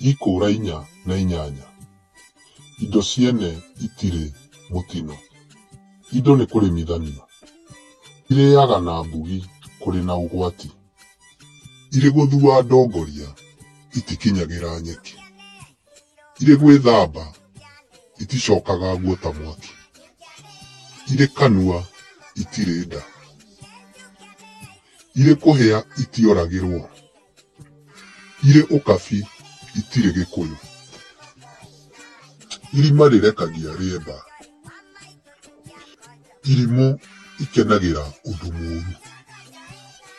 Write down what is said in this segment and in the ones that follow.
Ikũũra inya na inyanya. Indo ciene itirĩ mũtino. Indo nĩ kũrĩmithanio. Irĩaga na mbugi kũrĩ na ũgwati. Irĩ gũthua ndongoria itikinyagĩra nyeki. Irĩ gwĩthamba iticokaga nguo ta mwaki. Irĩ kanua itirĩ nda. Irĩ kũhĩa itioragĩrwo. Irĩ ũkabi itirĩ gĩkũyũ. Irima rĩrekagia rĩemba. Irimũ ikenagĩra ũndũ mũũru.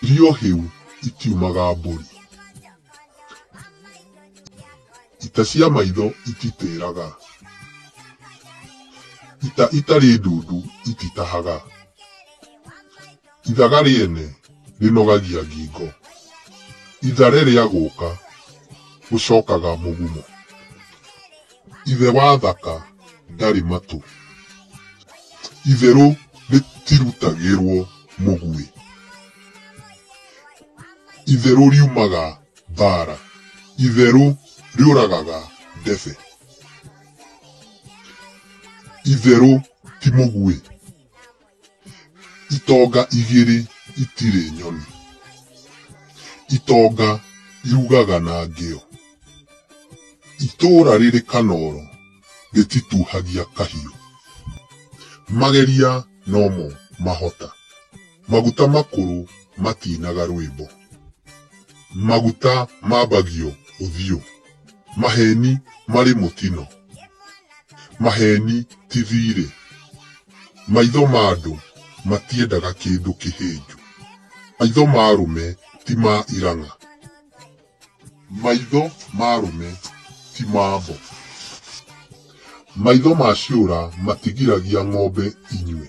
Irio hĩu itiumaga mbũri. Ita cia maitho ititĩraga. Ita itarĩ ndundu ititahaga. Ithaga rĩene rĩnogagia ngingo. Ithare rĩa gũka gũcokaga mũgumo. Ithe wa thaka ndarĩ matũ. Itherũ rĩtirutagĩrwo mũguĩ. Itherũ riumaga mbara. Itherũ rĩũragaga ndebe. Itherũ ti mũguĩ. itonga igĩrĩ itirĩ nyoni itonga irugaga na ngĩo itũũra rĩrĩ kanoro rĩtituhagia kahiũ mageria nomo mahota maguta makũrũ matinaga rwĩmbo maguta mambagio ũthiũ. Maheni marĩ mũtino. Maheni ti thiirĩ. Maitho ma andũ matiendaga kĩndũ kĩhĩnju. Maitho ma arũme ti ma irang'a. Maitho ma arũme ti ma mbo. Maitho ma ciũra matigiragia ng'ombe inyue.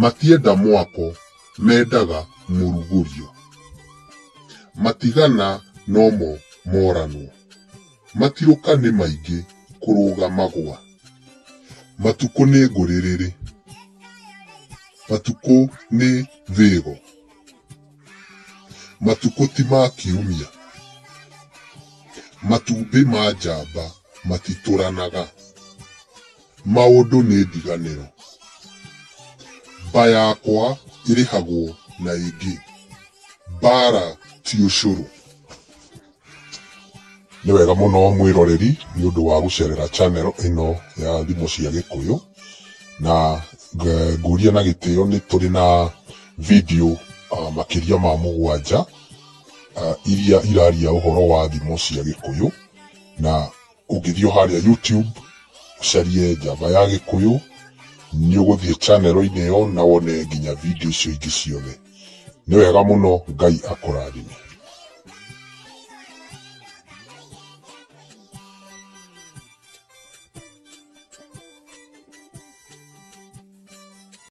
Matienda mwako, mendaga mũrugũrio. Matigana nomo moranwo. Matirũka nĩ maingĩ kũrũga magũa. Matukũ nĩ ngũrĩrĩrĩ. Matukũ nĩ thĩgo. Matukũ ti ma kiumia. Matumbĩ ma njamba matitũranaga. Maũndũ nĩ ndiganĩro. Mba yakwa ĩrĩhagwo na ĩngĩ. Mbaara ti ũcũrũ. Nĩ wega mũno mwĩroreri nĩ ũndũ wa gũcerera channel ĩno ya Thimo cia Gĩkũyũ, na ngũria na gĩtĩo nĩ tũrĩ na video makĩria ma mũgwanja iria iraria ũhoro wa thimo cia Gĩkũyũ na Ũngĩthiĩ o harĩa YouTube ũcarie Java ya Gĩkũyũ, nĩ ũgũthiĩ channel -inĩ ĩyo na wone nginya video icio ingĩ ciothe. Nĩ wega mũno, Ngai akũrathime.